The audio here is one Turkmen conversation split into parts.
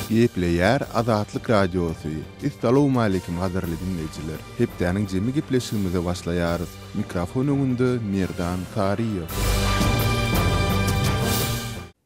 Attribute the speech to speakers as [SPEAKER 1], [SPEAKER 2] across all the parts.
[SPEAKER 1] Gepleýär Azatlyk Radiosy, Essalawmaleýkim gadyrly diňleýjiler! Hepdäniň jemi gepleşigimize başlaýarys. Mikrofon öňünde Merdan Saryýew.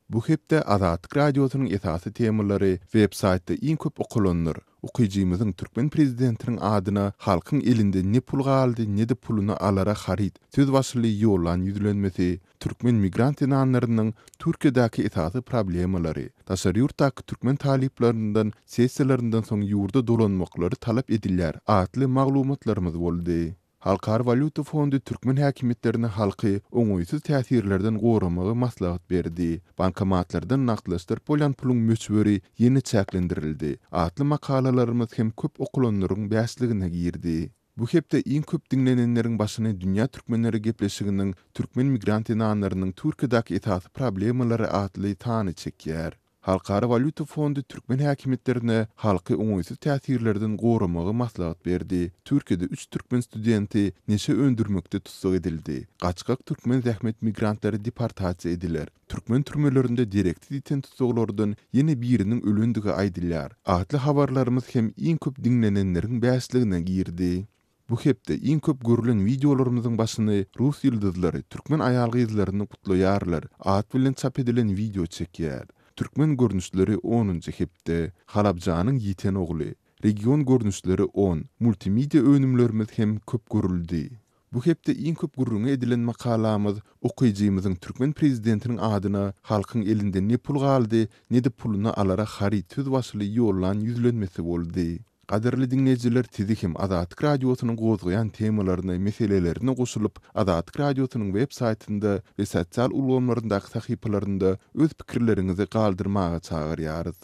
[SPEAKER 1] Bu hepde Azatlyk Radiosynyň esasy temalary websaýtda iň köp okalanlar, Okyjymyzyň türkmen prezidentiniň adyna Halkyň elinde ne pul galdy, ne-de puluna alara haryt söz başyly ýollan ýüzlenmesi, Türkmen migrant zenanlarynyň Türkiýedäki esasy problemalary, daşary ýurtdaky türkmen talyplaryndan sessiýalaryndan soň ýurda dolanmaklary talap edilýär atly maglumatlarymyz boldy. Halkara walýuta fondy türkmen häkimiýetlerine halky oňaýsyz täsirlerden goramagy maslahat berdi. Bankomatlardan nagtlaşdyryp bolýan puluň möçberi ýene çäklendirildi atly makalalarymyz hem köp okulanlaryň bäşligine girdi. Bu hepde iň köp diňlenenleriň başyny Dünýä türkmenleri gepleşiginiň Türkmen migrant zenanlarynyň Türkiýedäki esasy problemalary atly sany çekýär. Halkara walýuta fondy türkmen häkimiýetlerine halky oňaýsyz täsirlerden goramagy maslahat berdi. Türkiýede üç türkmen studenti neşe öndürmekde tussag edildi. Gaçgak türkmen zähmet migrantlary deportasiýa ediler. Türkmen türmelerinde dereksiz ýiten tussaglardan ýene biriniň ölendigi aýdylýar. Atly habarlarymyz hem iň köp diňlenenleriň bäşligine girdi. Bu hepde iň köp görülen wideolarymyzyň başyny rus ýyldyzlary türkmen aýal-gyzlaryny gutlaýarlar at bilen çap edilen wideo çekýär. Türkmen görnüşleri onunjy hepde, Halabjanyň ýiten ogly, Region görnüşleri on, Multimedia önümlerimiz hem köp görüldi. Bu hepde iň köp gürrüňi edilen makalamyz okyjymyzyň türkmen prezidentiniň adyna Halkyň elinde ne pul galdy, ne-de puluna alara haryt söz başyly ýollan ýüzlenmesi boldy. Gadyrly diňleýjiler sizi hem Azatlyk Radiosynyň gozgaýan temalaryna, meselelerine goşulyp, Azatlyk Radiosynyň web saýtynda we sosial ulgamlaryndaky sahypalarynda öz pikirleriňizi galdyrmaga çagyrýarys.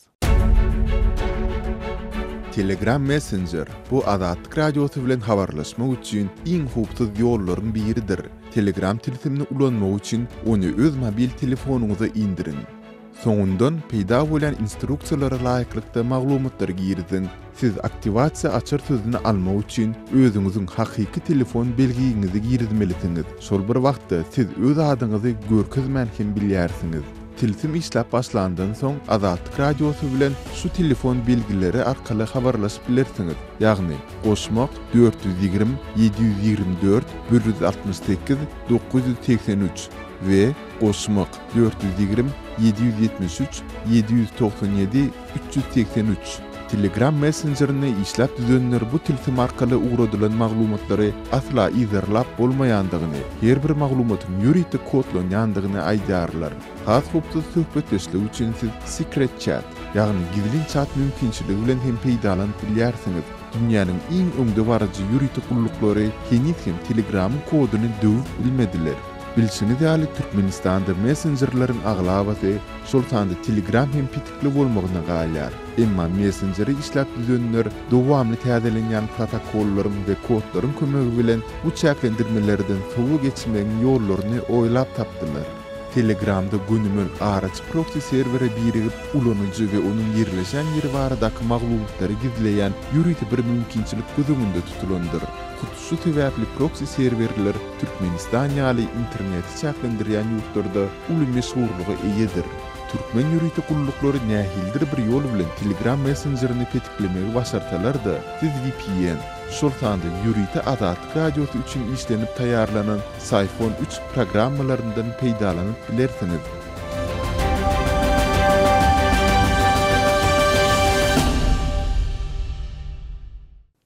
[SPEAKER 1] Telegram Messenger, bu Azatlyk Radiosy bilen habarlaşmak üçin iň howpsuz ýollaryň biridir. Telegram tilsimini ulanmak üçin ony öz mobil telefonyňyza indiriň. Soňundan peýda bolýan instruksiýalara laýyklykda maglumatlary giriziň. Siz aktiwasiýa açar sözüni almak üçin özüňiziň hakyky telefon belgiňizi girizmelisiňiz, şol bir wagtda siz öz adyňyzy görkezmän hem bilýärsiňiz. Tilsim işläp başlandan soň Azatlyk Radiosy bilen şu telefon belgileri arkaly habarlaşyp bilersiňiz, ýagny, goşmak dört ýüz ýigrimi ýedi ýüz ýigrimi dört bir ýüz altmyş sekiz dokuz ýüz segsen üç we goşmak dört ýüz ýigrimi ýedi ýüz ýetmiş üç ýedi ýüz togsan ýedi üç ýüz segsen üç Telegram messenjerini işläp düzenler bu tilsim arkaly ugradylan maglumatlary asla yzarlap bolmaýandygyny, her bir maglumatyň ýörite kodlanýandygyny aýdýarlar. Has howpsuz söhbetdeşlik üçin siz Secret Chat, ýagny gizlin çat mümkinçiligi bilen hem peýdalanyp bilýärsiňiz. Dünýäniň iň öňde baryjy ýörite gulluklary heniz hem Telegramyň koduny döwüp bilmediler. Bilşiňiz ýaly, Türkmenistanda messenjerleriň aglabasy, şol sanda Telegram hem petikli bolmagyna galýar. Emma messenjeri işläp düzenler dowamly täzelenýän protokollaryň we kodlaryň kömegi bilen bu çäklendirmelerden sowa geçmegiň ýollaryny oýlap tapdylar. Telegramda gönümel araçy proksi serwere birigip, ulanyjy we onuň ýerleşen ýeri baradaky maglumatlary gizleýän ýörite bir mümkinçilik göz öňünde tutulandyr. Şu sebäpli proksi serwerler Türkmenistan ýaly interneti çäklendirýän ýurtlarda uly meşhurlyga eýedir. Türkmen ýörite gulluklary nähilidir bir ýol bilen Telegram messenjerini petiklemegi başarsalar-da, siz vpn, şol sanda ýörite Azatlyk Radiosy üçin işlenip taýýarlanan Syphon üç programmalaryndan peýdalanyp bilersiňiz.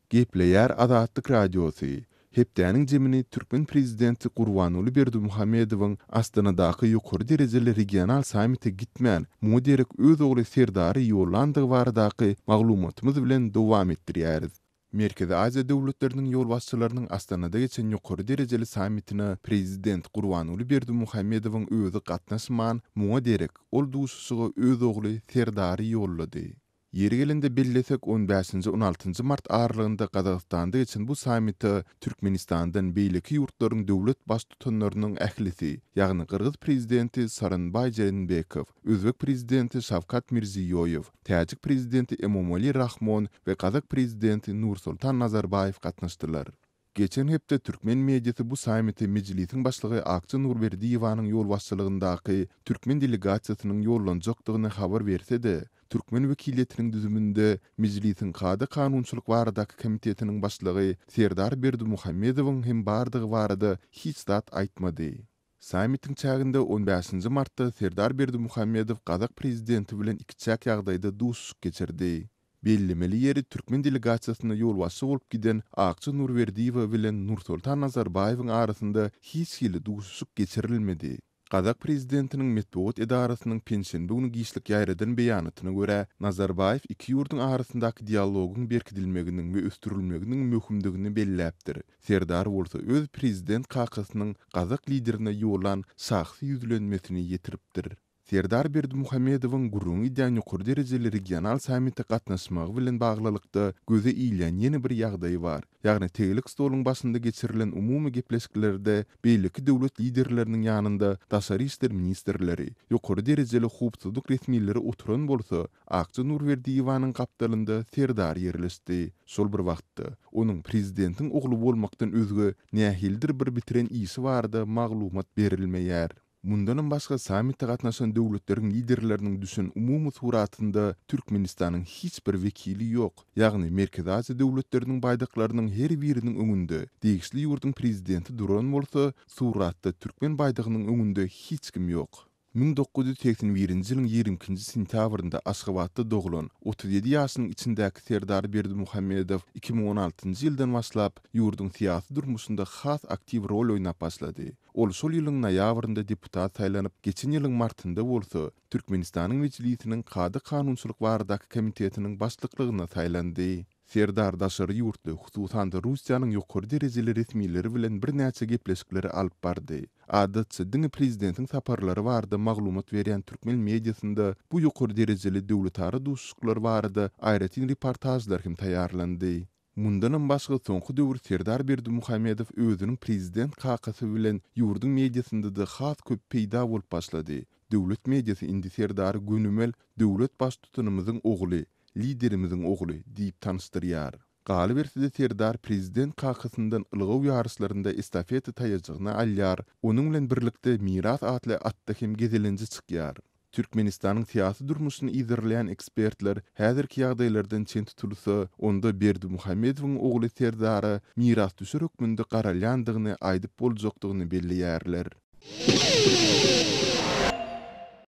[SPEAKER 1] Gepleýär Azatlyk Radiosy, Hepdäniň jemini türkmen prezidenti Gurbanguly Berdimuhamedowyň Astanadaky ýokary derejeli regional sammite gitmän, muňa derek öz ogly Serdary ýollandygy baradaky maglumatymyz bilen dowam etdirýäris. Merkezi Aziýa döwletleriniň ýolbaşçylarynyň Astanada geçen ýokary derejeli sammitine prezident Gurbanguly Berdimuhamedowyň özi gatnaşman, muňa derek, ol duşuşyga öz ogly Serdary ýollady. Ýeri gelende bellesek, on bäşinji-on altynjy mart aralygynda Gazagystanda geçen bu sammite Türkmenistandan beýleki ýurtlaryň döwlet Baştutanlarynyň ählisi, ýagny gyrgyz Prezidenti Sooronbaý Jeenbekow, özbek Prezidenti Şawkat Mirziýoýew, täjik Prezidenti Emomali Rahmon we gazak Prezidenti Nursultan Nazarbaýew gatnaşdylar. Geçen hepde türkmen mediasy bu sammite Mejlisiň Başlygy Akja Nurberdiýewanyň ýolbaşçylygyndaky türkmen delegasiýasynyň ýollanjakdygyny habar berse-de, türkmen wekiliýetiniň düzüminde Mejlisiň Kada-kanunçylyk baradaky komitetiniň başlygy Serdar Berdimuhamedowyň hem bardygy barada hiç zat aýtmady. Sammitiň çäginde on bäşinji martda Serdar Berdimuhamedow gazak prezidenti bilen ikiçäk ýagdaýda duşuşyk geçirdi. Bellemeli ýeri türkmen delegasiýasyna ýolbaşçy bolup giden Akja Nurberdiýewa bilen Nursoltan Nazarbaýewiň arasynda hiç hili duşuşyk geçirilmedi. Gazak prezidentiniň metbugat edarasynyň penşenbe güni giçlik ýaýradan beýanatyna görä, Nazarbaýew iki ýurduň arasyndaky dialogyň berkidilmeginiň we ösdürilmeginiň möhümdigini belläpdir. Serdar bolsa öz prezident kakasynyň gazak liderine ýollan şahsy ýüzlenmesini ýetiripdir. Serdar Berdimuhamedowyň gürrüňi edýän ýokary derejeli regional sammite gatnaşmagy bilen baglylykda göze ilýän ýene bir ýagdaý bar, ýagny tegelek stoluň başynda geçirilen umumy gepleşiklerde beýleki döwlet liderleriniň ýanynda daşary işler ministrleri, ýokary derejeli howpsuzlyk resmileri oturan bolsa, Akja Nurberdiýewanyň gapdalynda Serdar ýerleşdi. Şol bir wagtda, onuň prezidentiň ogly bolmakdan özge nähilidir bir bitiren işi barada maglumat berilmeýär. Mundanam başga sammite gatnaşan döwletleriň liderleriniň düşen umumy suratynda Türkmenistanyň hiç bir wekili ýok, ýagny Merkezi Aziýa döwletleriniň baýdaklarynyň her biriniň öňünde degişli ýurduň prezidenti duran bolsa, suratda türkmen baýdagynyň öňünde hiç kim ýok. Müň dokuz ýüz segsen birinji ýylyň ýigrimi ikinji sentýabrynda Aşgabatda doglan, otuz ýedi ýaşynyň içindäki Serdar Berdimuhamedow iki müň on altynjy ýyldan başlap ýurduň syýasy durmuşynda has aktiw rol oýnap başlady. Ol şol ýylyň noýabrynda deputat saýlanyp, geçen ýylyň martynda bolsa, Türkmenistanyň Mejlisiniň Kada-kanunçylyk baradaky komitetiniň başlyklygyna saýlandy. Serdar daşary ýurtly, hususan-da, Russiýanyň ýokary derejeli resmileri bilen birnäçe gepleşikleri alyp bardy. Adatça, diňe prezidentiň saparlary barada maglumat berýän türkmen mediasynda bu ýokary derejeli döwletara duşuşyklar barada aýratyn reportažlar hem taýýarlandy. Mundanam başga soňky döwür Serdar Berdimuhamedow özüniň prezident kakasy bilen ýurduň mediasynda-da has köp peýda bolup başlady. Döwlet mediasy indi Serdary gönümel döwlet baştutanymyzyň ogly, Liderimiziň ogly diýip tanyşdyrýar. Galyberse-de Serdar prezident kakasyndan ylgaw ýaryşlarynda estafeta taýajygyny alýar, onuň bilen birlikde Miras atly atda hem gezelenje çykýar. Türkmenistanyň syýasy durmuşyny yzarlaýan ekspertler häzirki ýagdaýlardan çen tutulsa, onda Berdimuhamedowyň ogly Serdara mirasdüşer hökmünde garalýandygyny aýdyp boljakdygyny belleýärler.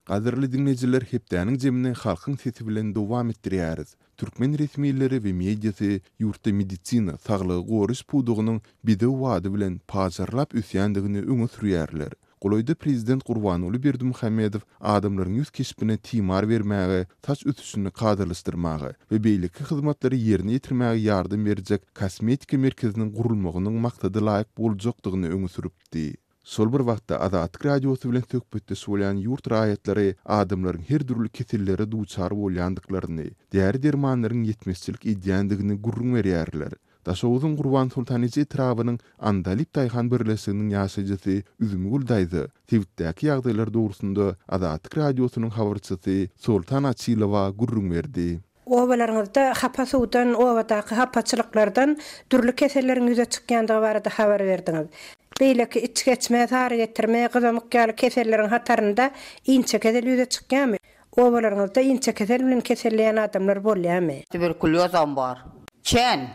[SPEAKER 1] Gadyrly diňleýjiler hepdäniň jemini Halkyň sesi bilen dowam etdirýäris. Türkmen resmileri we mediasy ýurtda medisina, saglygy goraýyş pudagynyň bedew bady bilen pajarlap ösýändigini öňe sürýärler. Golaýda prezident Gurbanguly Berdimuhamedow adamlaryň ýüz keşbine timar bermäge, saç ösüşini kadalaşdyrmaga we beýleki hyzmatlary ýerine ýetirmäge ýardam berjek kosmetika merkeziniň gurulmagynyň maksadalaýyk boljakdygyny öňe sürüpdi. Şol bir wagtda, Azatlyk Radiosy bilen söhbetdeş bolýan ýurt raýatlary adamlaryň her dürli kesellere duçar bolýandyklaryny, däri-dermanlaryň ýetmezçilik edýändigini gürrüň berýärler. Daşoguzyň Gurbansoltaniji etrabynyň Andalyp daýhan birleşiginiň ýaşaýjysy Üzümgül daýza sebitdäki ýagdaýlar dogrusynda Azatlyk Radiosynyň habarçysy Soltan Açylowa gürrüň berdi. Obalaryňyzda
[SPEAKER 2] hapa suwdan, obadaky hapaçylyklardan dürli keselleriň ýüze çykýandygy barada habar berdiňiz. Beýleki içgeçme, sarygetirme, gyzamyk ýaly keselleriň hatarynda inçekezel ýüze çykýarmy? Obalaryňyzda inçekesel bilen keselleýän adamlar bolýarmy? Tuberkuliozam bar.
[SPEAKER 3] Çen.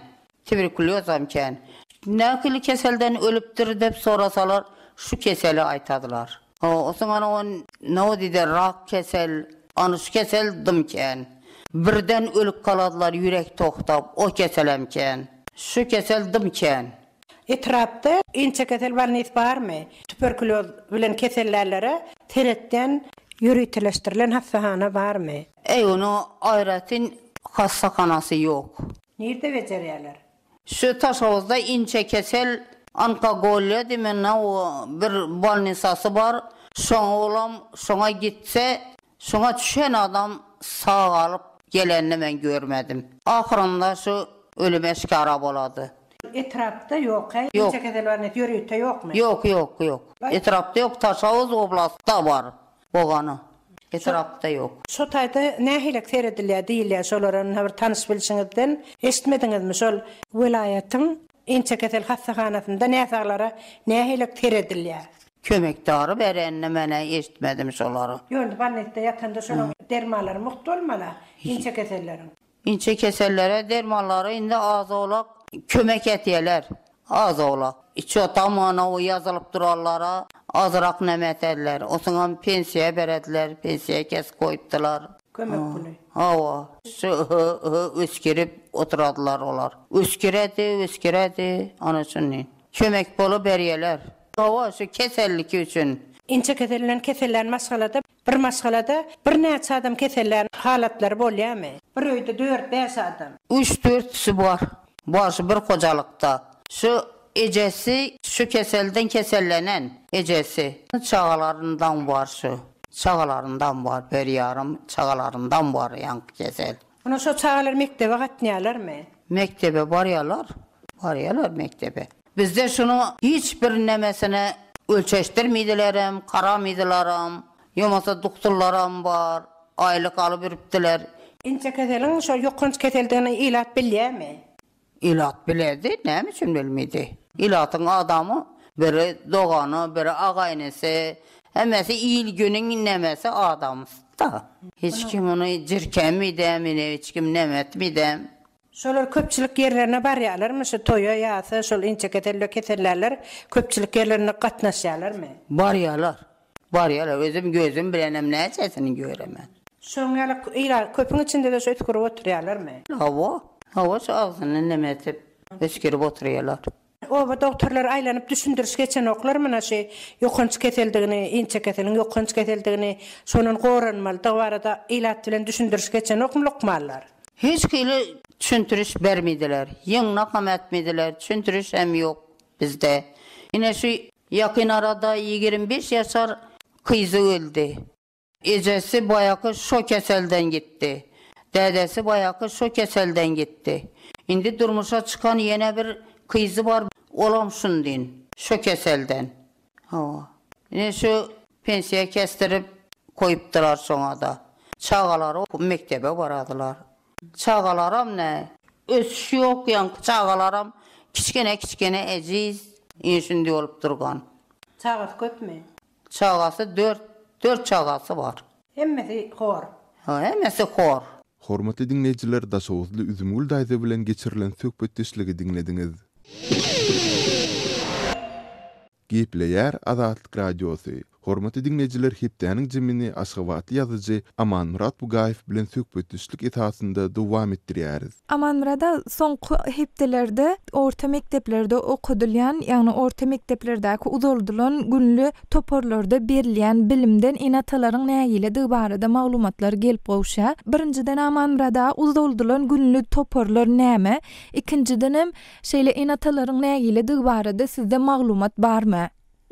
[SPEAKER 3] Tuberkuliozam çen. Nähili keselden ölüpdir dep sorasalar şu keseli aýtadylar. Osuňan on nawodide rak kesel, anyş kesel dym çen. Birden ölüp kaladylar ýürek togtap o keselem çen. Şu kesel dym çen. Etrapda
[SPEAKER 2] inçekesel bolnis barmy? Tuberkulýoz bilen kesellänlere seretýän ýöriteleşdirilen hassahana barmy? Eýwanyň
[SPEAKER 3] aýratyn hassahanasy ýok. Nirde bejerýärler?
[SPEAKER 2] Şu
[SPEAKER 3] Taşhowuzda inçekesel onkogoliýa diýmende bir bolnisasy bar. Şoň oglam şoňa gitse, şoňa çüşen adam sagalyp gelenini men görmedim. Ahyrynda şu ölüm eşkara bolady. Etrapda
[SPEAKER 2] ýoka inçe kesel bar nes ýörite ýokmy. Ýok ýok ýok
[SPEAKER 3] etrapda ýok Taşawuz oblastda bar bogany etrapda ýok. Şo taýda
[SPEAKER 2] nähilek seredilýär diýilýär şolara ynha bir tanyş bilşiňizden eşitmediňizmi şol. Welaýatyň inçe kesel hassahanasynda näsaglara nähilek seredilýär. Kömek dary
[SPEAKER 3] berenini menä eşitmedim şolary. Ýörite bolnisda
[SPEAKER 2] ýatanda şolaň dermanlary mugt bolmala inçe keselleriň. Inçe kesellere
[SPEAKER 3] dermanlary indi az-owlak kömek etýärler. Az-owlak. Içotamanowy ýazylyp duranlara azyrak näme etediler. Osuňam pensiýa berediler. Pensiýa kesip goýupdylar. Kömek puly.
[SPEAKER 2] Hawa.
[SPEAKER 3] Şy-hy-hy üsgürip oturadylar olar. Üsgüredi, üsgüredi. Ony şunin. Kömek puly berýärler. Hawa, şu keselliki üçin. Inçe keselinden
[SPEAKER 2] kesellän maşgalada Bir maşgalada birnäçe adam kesellän halatlary bolýarmy? Bir öýde dört-bäş adam. Üç-dörtüsi
[SPEAKER 3] bar. Bar şu bir hojalykda. Şu ejesi şu keselden kesellenen ejesi. Çagalaryndam bar şu. Çagalaryndam bar, bir ýarym çagalaryndam bar ýaňky kesel. Ine şo çagalar
[SPEAKER 2] mekdebe gatnaýalarmy? Mekdebe
[SPEAKER 3] barýalar. Barýalar mekdebe. Bizde şunuň hiç bir nemesini ölçeşdirmedilerem, karamedilaram. Ýomasa dukturlaram bar. Aýlyk alyberipdiler. Inçekeseliň
[SPEAKER 2] şol ýokanç keseldigini ilat bilýämi? Ilat
[SPEAKER 3] biledi, näme üçin bilmedi? Ilatyň adamy, biri dogany, biri aga-inisi, hemmesi il-güniň nämesi, adamsy-da. Hiç kim ony jirkänmidem, ine, hiç kim näme etmidem. Şolar
[SPEAKER 2] köpçülik ýerlerine barýarlarmy? Şu toýa, ýasa, şol inçekesel we kesellärler köpçülik ýerlerine gatnaşýarlarmy? Barýarlar.
[SPEAKER 3] Barýar-a, özüm gözüm bilenem näçesini göremen. Şoň ýaly
[SPEAKER 2] ýyla köpüň içinde-de şu üsgürip oturýarlarmy? Hawa. Hawa,
[SPEAKER 3] şu agzyny neme edip, üsgürip oturýarlar. Oba dogtorlary
[SPEAKER 2] aýlanyp düşündiriş geçenoklar muna şu ýokanç keseldigini, inçe keseliň ýokanç keseldigini, şondan goranmalydygy barada ilat bilen düşündiriş geçenokmy lukmanlar? Hiç hili
[SPEAKER 3] düşündiriş bermediler. Ýygnak hem etmediler, düşündiriş hem ýok bizde. Ine şu Ýakyn arada ýigrimi bäş ýaşar kyzy öldi. Ejesi baýaky şo keselden gitdi. Dädesi baýaky şo keselden gitdi. Indi durmuşa çykan ýene bir kyzy bar, olam şundin, şo keselden. Hawa. Ine şu pensiýa kesdirip goýupdylar şoňa-da. Çagalary mekdebe baradylar. Çagalaram näý? Ösüş ýok ýaňky çagalaram kiçgene kiçgene ejiz ine şindi bolup durgan. Çagasy köpmi?
[SPEAKER 2] Çagasy
[SPEAKER 3] dört dört çagasy bar. Hemmesi hor.
[SPEAKER 2] Ho hemmesi
[SPEAKER 3] hor. Hormatly diňleýjiler
[SPEAKER 1] Daşoguzly Üzümgül daýza bilen geçirilen söhbetdeşligi diňlediňiz. Gepleýär Azatlyk Radiosy, Hormatly diňleýjiler hepdäniň jemini aşgabatly ýazyjy Amanmyrat Bugaýew bilen söhbetdeşlik esasynda dowam etdirýäris. Amanmyrat aga,
[SPEAKER 4] soňky hepdelerde orta mekdeplerde okadylýan, ýagny orta mekdeplerdäki uzaldylan günli toparlarda berilýän bilimden ene-atalaryň nägiledigi barada maglumatlar gelip gowuşýar. Birinjiden Amanmyrat aga, uzaldylan günli toparlar näme? Ikinjidenem, Şeýle ene-atalaryň nägiledigi barada sizde maglumat barmy?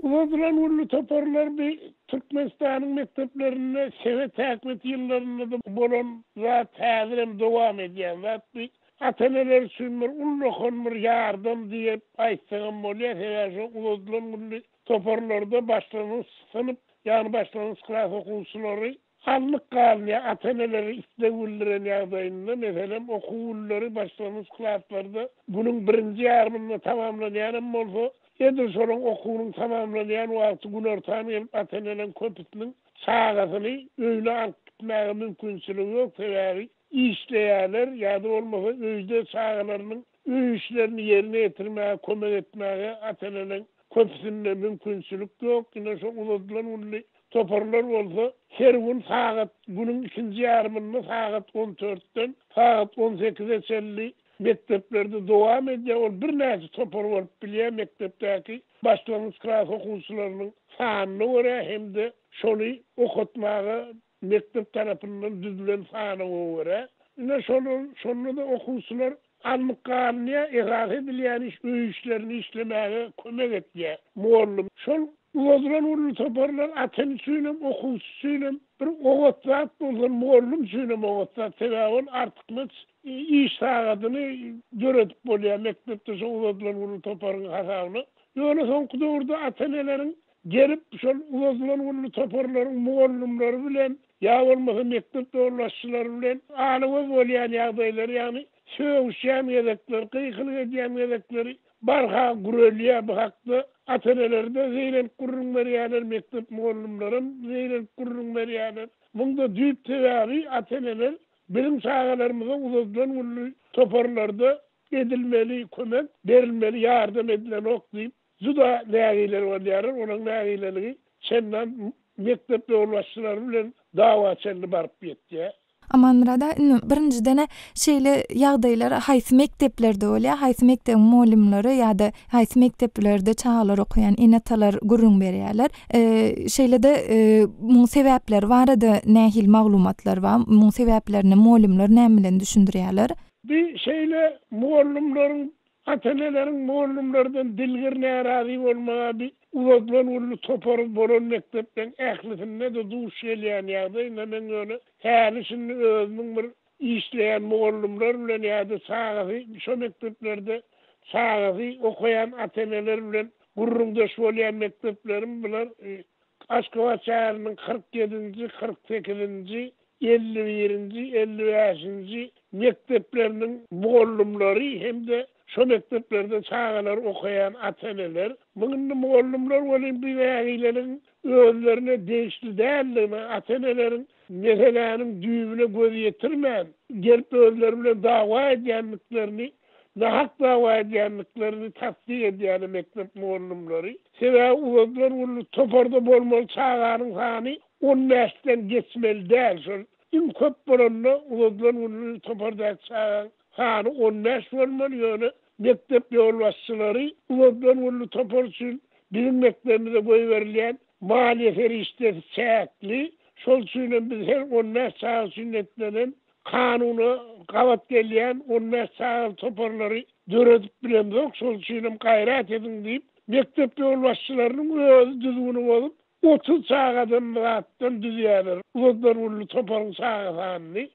[SPEAKER 4] Uly Gyzylgülli
[SPEAKER 5] toparlar bi Türkmenistanyň mekdeplerinde sebet häkmet ýyllarynda-da bolan zat, häzirem dowam edýän zat. Bi ata-eneler üçin bir ullakan bir ýardam diýip aýtsagam bolýar. Sebäbi şo Uly Gyzylgülli toparlarda başlangyç synp, ýagny başlangyç klas okuwçylary Salnyk galynýar. Ata-eneler isleg bildiren ýagdaýynda, meselem, okuw günleri başlangyç klaslarda günüň birinji ýarymynda tamamlanýan hem bolsa, edil şolaň okuwynyň tamamlanýan wagty günortan gelip, ata-eneleriň köpüsiniň çagasyny öýüne alyp gitmäge mümkinçiligi ýok, sebäbi işleýärler ýa-da bolmasa öýde çagalarynyň Öý işlerini ýerine ýetirmäge kömek etmäge ata-eneleriň köpüsinde mümkinçilik ýok. Ine, şo uzadylan günli toparlar bolsa, her gün sagat, günüň ikinji ýarymynda sagat on dörtden sagat on sekize çenli mekdeplerde dowam edýär. Ol birnäçe topar bolup bilýär, mekdepdäki başlangyç klas okuwçylarynyň sanyna görä hem-de şony okatmaga Mekdep tarapyndan düzülen sanawa görä, ine, şolar, şonda-da okuwçylar alnyp galynýar, esasy edilýän iş öý işlerini işlemäge kömek etýär mugallym. Şol uzadylan uly toparlar ata-ene üçin hem, okuwçy üçin hem bir oňat zat bolsa, mugallym üçin hem oňat zat, sebäbi ol artykmaç iş sagadyny döredip bolýar mekdepde şo uzadylan uly toparyň hasabyna. Ýöne soňky döwürde ata-eneleriň Gelip, şol uzadylan günli toparlaryň mugallymlary bilen ýa bolmasa mekdep ýolbaşçylary bilen ala-göz bolýan ýagdaýlary, ýagny sögüşýän gezekleri, gykylyk edýän gezekleri barha gürelýär. Bu hakda ata-eneler-de zeýrenip gürrüň berýärler, mekdep mugallymlaram zeýrenip gürrüň berýärler. Muňda düýp sebäbi ata-eneler biziň çagalarymyza uzadylan günli toparlarda edilmeli kömek, berilmeli ýardam edilenok diýip, Juda nägileler bolýarlar, olaryň nägileligi çendan mekdep ýolbaşçylary bilen dawa çenli baryp ýetýär. Amanmyrat aga, indi
[SPEAKER 4] birinjiden-ä şeýle ýagdaýlar haýsy mekdeplerde bolýar, haýsy mekdebiň mugallymlary ýa-da haýsy mekdeplerde çagalar okaýan ene-atalar gürrüň berýärler? Şeýle-de, muň sebäpleri barada nähili maglumatlar bar? Muň sebäplerini mugallymlar näme bilen düşündirýärler? Bi şeýle
[SPEAKER 5] mugallymlaryň Ata-eneleriň mugallymlardan dilgir närazy bolmagy bi uzadylan günli topary bolan mekdepleriň ählisinde-de duş gelýän ýagdaý, na men ýöne häli-şindi özümiň bir işleýän mugallymlar bilen ýa-da çagasy şo mekdeplerde çagasy okaýan ata-eneler bilen gürrüňdeş bolýan mekdeplerim biler, Aşgabat şäheriniň kyrk ýedinji, kyrk sekizinji, elli birinji, elli bäşinji mekdepleriniň mugallymlary hem-de şo mekdeplerde çagalary okaýan ata-eneler, muň indi mugallymlar welin bu nägileligiň özlerine degişli däldigine, ata-eneleriň meseläniň düýbüne göz ýetirmän, gelip özleri bilen dawa edýändiklerini nahak dawa edýändiklerini tassyk edýäne mekdep mugallymlary, sebäbi uzadylan günde toparda bolmaly çaganyň sany on bäşden geçmeli däl, şol iň köp bolanda uzadylan günde topardaky çagaň sany on bäş bolmaly, ýöne mekdep ýolbaşçylary uzadylan günde topar üçin biziň mekdebimize goýberilýän maliýe serişdesi çäkli, şol üçin hem biz her on bäş çaga üçin netlenen Kanuna gabat gelýän on bäş çagaly toparlary döredip bilemzok, şol üçin hem gaýrat ediň diýip, mekdep ýolbaşçylarynyň özi düzgüni bozup, otuz çagadan zatdan düzýärler, uzadylar uly toparyň çaga sanyny.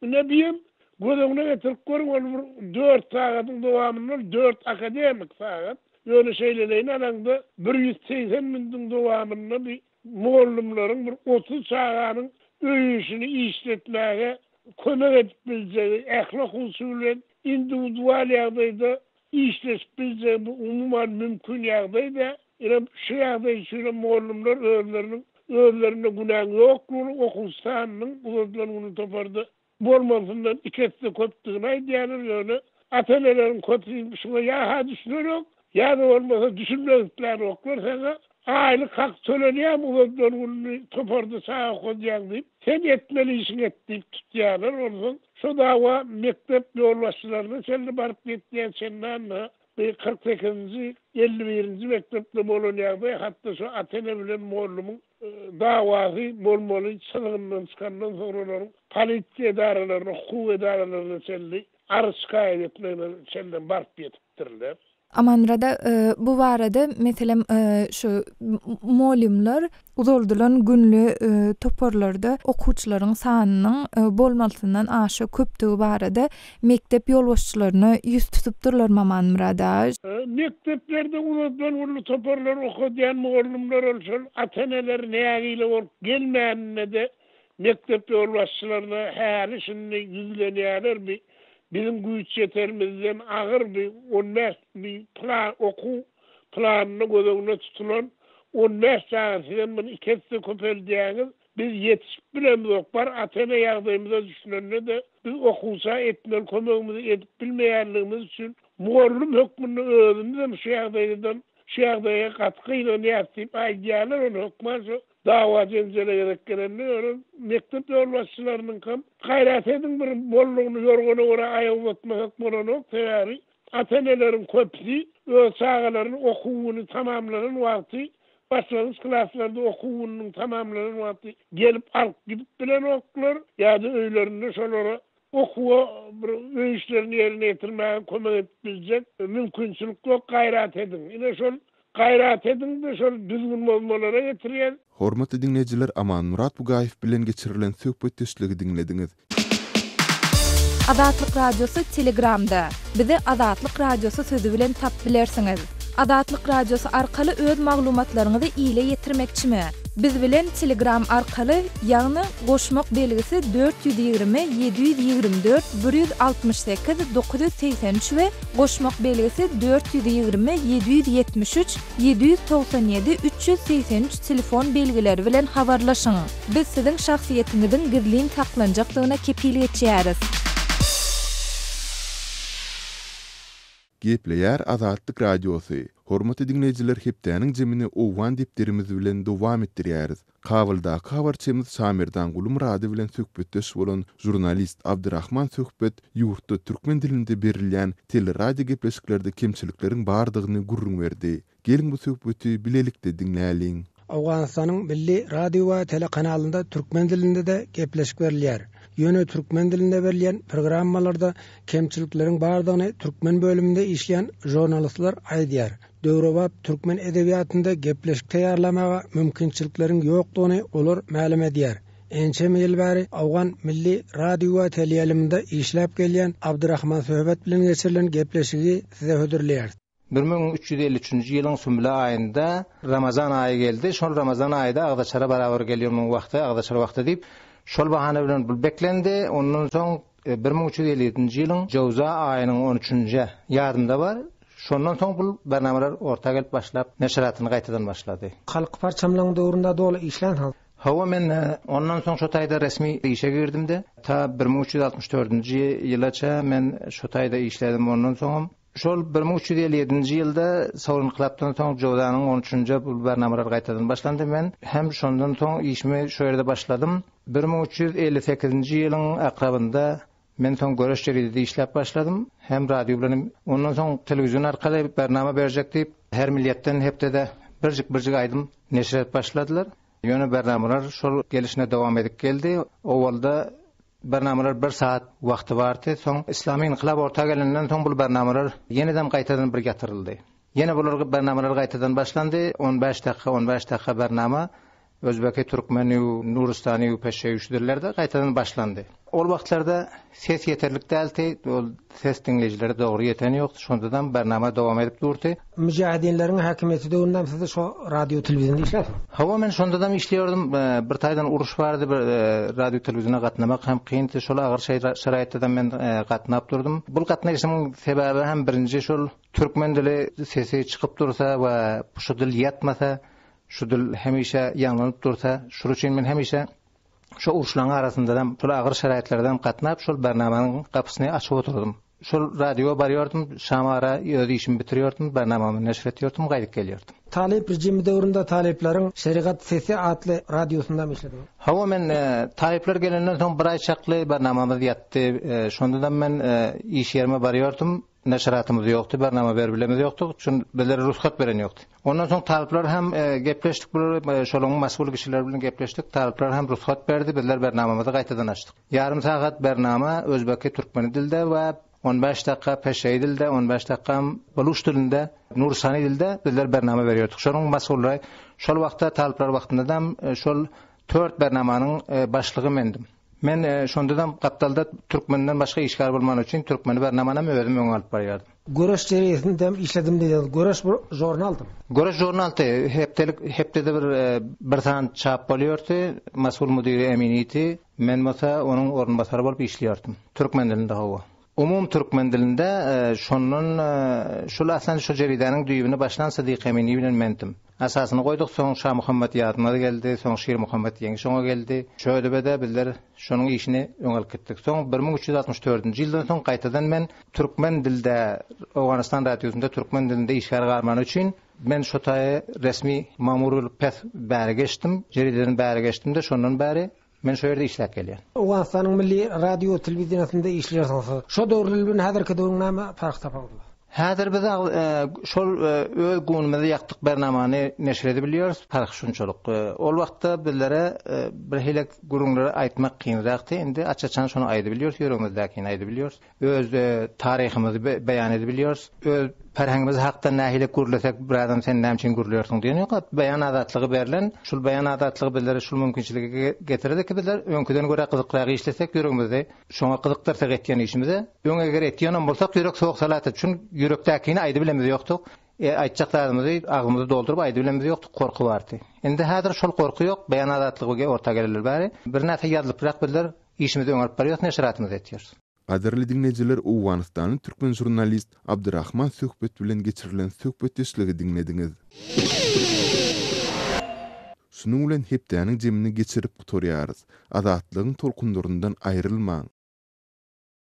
[SPEAKER 5] Ine, bi hem göz öňüne getirip görüň, ol bir dört sagadyň dowamynda ol dört akademik sagat. Ýöne şeýleleýin alaňda bir ýüz segsen minutiň dowamynda bi mugallymlaryň bir otuz çaganyň öý-işini işletmäge kömek edip biljegi, ähli okuwçy bilen indiwidual ýagdaýda işleşip biljegi bu umuman mümkin ýagdaý-da. Ine, şu ýagdaý üçinem mugallymlar özleriniň özlerinde günäň ýoklugyny, okuwçy sanynyň uzadylan gününi toparda bolmalysyndan iki esse köpdügini aýdýarlar, ýöne ata-eneleriň köpüsi şuňa ýa-ha düşünerok, ýa-da bolmasa düşünmek isläýenoklar, saňa aýlyk hak tölenýärmi uzadylan gününi toparda çaga okadýaň diýip, sen etmeli işiňi et diýip tutýarlar, onsoň şo dawa mekdep ýolbaşçylaryna çenli baryp ýetýär, çenlanda bu kyrk sekizinji, elli birinji mekdepde bolan ýagdaý hatda şo ata-ene bilen mollumyň dawasy bolmaly çyzgyndan çykandan soňra olaryň polisiýa edaralaryna, hukuk edaralaryna çenli arz şikaýat etmegine çenlem baryp ýetipdirler. Amanrada
[SPEAKER 4] bu barada, meselem, şu mugallymlar uzaldylan günli toparlarda okuwçylaryň sanynyň bolmalysyndan aşa köpdügi barada Mekdep ýolbaşçylaryna ýüz tutupdyrlar Mamanmyrat a. Mekdeplerde
[SPEAKER 5] ulaldan uly toparlar okadýan mugallymlar ol şol ata-eneler nägile bolup gelmäninde-de mekdep ýolbaşçylaryna häli-şindi ýüzlenýärler bi biziň güýç ýeterimizden agyr bi on bäş bi pla okuw planynda göz öňüne tutulan on bäş çaga sizem muny iki esse köpeldýäňiz Biz ýetişip bilemzok, bar ata-ene ýagdaýymyza düşünende-de, biz okuwça etmeli kömegimizi edip bilmeýänligimiz üçin, mugallym hökmünde özümizem şu ýagdaýdan, şu ýagdaýa gaty gynanýarys diýip aýdýarlar, ony hökman şu dawa-jenjele gerek gelende, ýöne mekdep ýolbaşçylarynyňkam, gaýrat ediň, bir mollagyny ýorgana görä aýak uzatmasak bolanok, sebäbi Ata-eneleriň köpüsi öz çagalaryny okuw güni tamamlanan wagty, başlangyç klaslarda okuw gününiň tamamlanan wagty gelip alyp gidip bilenoklar ýa-da öýlerinde şolara okuwa bir öý işlerini ýerine ýetirmäge kömek edip biljek mümkinçilik ýok, gaýrat ediň. Ine şol Gaýrat ediňde şol düzgün bozmalara getirýär. Hormatly diňleýjiler
[SPEAKER 1] Amanmyrat Bugaýew bilen geçirilen söhbetdeşligi diňlediňiz.
[SPEAKER 4] Azatlyk Radiosy Telegramda, Bizi Azatlyk Radiosy sözi bilen tap bilersiňiz. Azatlyk Radiosy arkaly öz maglumatlaryňyzy ile ýetirmekçimi? Biz bilen Telegram arkaly, ýagny, goşmak belgisi dört ýüz ýigrimi, ýedi ýüz ýigrimi dört, bir ýüz altmyş sekiz, dokuz ýüz segsen üç we. Goşmak belgisi dört ýüz ýigrimi ýedi ýüz ýetmiş üç ýedi ýüz togsan ýedi üç ýüz segsen üç telefon belgileri bilen habarlaşyň. Biz siziň şahsyýetiňiziň gizlin saklanjakdygyna kepil geçýäris.
[SPEAKER 1] Gepleýär Azatlyk Radiosy, Hormatly diňleýjiler hepdäniň jemini owgan depderimiz bilen dowam etdirýäris. Kabuldaky habarçymyz Şamerdan Gulumyrady bilen söhbetdeş bolan žurnalist Abdyrahman Söhbet ýurtda türkmen dilinde berilýän teleradiogepleşiklerde kemçilikleriň bardygyny gürrüň berdi. Geliň bu söhbeti bilelikde diňläliň. Owganystanyň
[SPEAKER 6] milli radio we telekanalynda türkmen dilinde-de gepleşik berilýär. Ýöne türkmen dilinde berilýän programmalarda kemçilikleriň bardygyny türkmen bölüminde işleýän žurnalistler aýdýar. döwrebap türkmen edebiýatynda gepleşik taýýarlamaga mümkinçilikleriň ýokdugyny olar mälim edýär. Ençeme ýyl bäri Owgan milli radiowa teleýaýlymynda işläp gelýän Abdyrahman Söhbet bilen geçirilen gepleşigi size hödürleýäris. Bir müň üç ýüz elli
[SPEAKER 7] üçünji ýylyň sümle aýynda Ramazan aýy geldi. Şol Ramazan aýy-da agzaçara barabar gelýär, munuň wagty agzaçar wagty diýip, şol bahana bilen beklendi. Ondan soň Bir müň üç ýüz elli ýedinji ýylyň jöwza aýynyň on üçünji ýadymda bar, şondan soň bul bernamalar orta gelip başlap, neşiratyny gaýtadan başlady. Halk parçamlaryň döwründe doly işlänsiňiz? Hawa, men ondan soň şo taýda resmi işe girdim-de, ta bir müň üç ýüz altmyş dördünji ýylaça men şo taýda işledim, ondan soňam Şol bir müň üç ýüz elli ýedinji ýylda Saur ynkylapdan soň Jozanyň on üçünje bu barnamalar gaýtadan başlandy. Men hem şondan soň işimi şu ýerde başladym. Bir müň üç ýüz elli sekizinji ýylyň akrabynda men soň Göreş jeridede işläp başladym. Hem radio bilen hem ondan soň telewizion arkaly barnama berjek diýip, her milliýetden hepdede birjik-birjik aýdym neşir edip başladylar. Ýöne barnamalar şol gelşine dowam edip geldi. Owalda Barnamalar bir saat wagty bardy. Soň yslamy ynkylap orta gelenden soň bul barnamalar ýeneden gaýtadan bir ýatyryldy. Ýene bular barnamalar gaýtadan başlandy. On bäş dakika, on bäş dakika barnama Özbeki, Türkmeni, Nuristani, Peşewi şu dillerde gaýtadan başlandy. Ol wagtlarda ses ýeterlik däldi. Ol Ses diňleýjilere dogry ýeten ýokdy, şondadam barnama dowam edip durdy. Müjahidinleriň häkimiýeti döwündem siz şo radio telewizionda işläsiň? Hawa men şondadam işleýärdim, bir taýdan uruş bardy, bir radio telewiziona gatnamak hem kyndy, şol agyr şeraýatdadam men gatnap durdum. Bul gatnaýşymyň sebäbi hem birinji şol türkmen dili sesi çykyp dursa we şu dil ýatmasa, şu dil hemişe ýaňlanyp dursa, şul üçin men hemişe Şo uruşlaryň arasyndadam, şol agyr şaraýatlardam gatnap, şol Barnamanyň gapysyny açyp oturdym. Şol radioa barýardym, şama ara öz işimi bitirýärdim, Barnamamy neşir etýärdim, gaýdyp gelýärdim. Talyp rejimi döwründe Talyplaryň Şerigat sesi atly radiosundam işlediňiz. Hawa, men Talyplar gelenden soň bir aý çakly Barnamamyz ýatdy. Şondadam men iş ýerime barýardym. Neşiratymyz ýokdy, bernama berip bilemz ýokdy, çün bizlere rugsat beren ýokdy. Ondan soň talyplar hem gepleşdik, bular şolaň masgul kişiler bilen gepleşdik, talyplar hem rugsat berdi, bizler bernamamyzy gaýtadan açdyk. Ýarym sagat bernama özbeki, türkmeni dilde we on bäş dakga peşewi dilde, on bäş dakgam baluş dilinde, nuristani dilde bizler bernama berýärdik. Şolaň masgullary şol wagtda talyplar wagtynda hem şol dört bernamanyň başlygy mendim. Men şondadam gapdalda türkmenden başga işgär bolmany üçin türkmeni bernamanam özüm öňe alyp barýardym. Göreş jereýsindem işledim diýýäňiz. Göreş bir žurnaldymy? Göreş žurnaldy. Hepdelik, hepdede bir bir sany çap bolýardy. Masgul müdiri Emin idi. Men bolsa onuň orunbasary bolup işleýärdim. Türkmen dilinde hawa. Umumy türkmen dilinde şondan şul aslan şu jeridäniň düýbüni başlan Sydyk Emini bilen mendim. Asasyny goýduk, soň Şamuhammet Ýazmaz geldi, soň Şirmuhammet Ýeňiş oňa geldi. Şödübede bizler şonuň işini öňe alyp gitdik. Soň bir müň üç ýüz altmyş dördünji ýyldan soň gaýtadan men türkmen dilde Owganystan radiosynda türkmen dilinde işgär galmany üçin men şo taýy resmi mamur bolup pes bäri geçdim. Jerideden bäri geçdim-de şondan bäri Men şu ýerde işläp gelýän. Owganystanyň milli radio-telewideniýesinde işleýärsiňiz. Şo döwürler bilen häzirki döwrüň näme parh tapawudy bar? Häzir biz şol öz günümizi ýakdyk bernamany neşir edip bilýäris, parh şunçalyk. Ol wagtda bizlere birhili gürrüňleri aýtmak kynrakdy, indi aç-açan şony aýdyp bilýäris, ýüregimizdäkini aýdyp bilýäris. öz taryhymyzy beýan edip bilýäris, öz perhengimiz hakda nähili gürlesek birazam sen näme üçin gürlärsiň diýen ýok, beýan azatlygy berlen, şul beýan azatlygy bizlere şul mümkinçiligi getirdi ki bizler öňküden görä gyzykrak işlesek ýüregimizde şoňa gyzykdyrsak etýän işimize, öň eger etýänem bolsak ýürek sowuk salatdy, çün ýürekdäkini aýdy bilemmiz ýokduk, aýtjak zadymyzy agzymyzy dolduryp aýdy bilemmiz ýokduk gorky bardy, indi häzir şol gorky ýok, beýan azatlygy orta geleli bäri birnäçe ýazlyprak bizler Işimizi öňe alyp barýarys, neşiratymyzy etýäris. Gadyrly diňleýjiler
[SPEAKER 1] owganystanly türkmen žurnalist Abdyrahman Söhbet bilen geçirilen söhbetdeşligi diňlediňiz. Şunuň bilen hepdäniň jemini geçirip gutarýarys. Azatlygyň tolkunlaryndan aýrylmaň!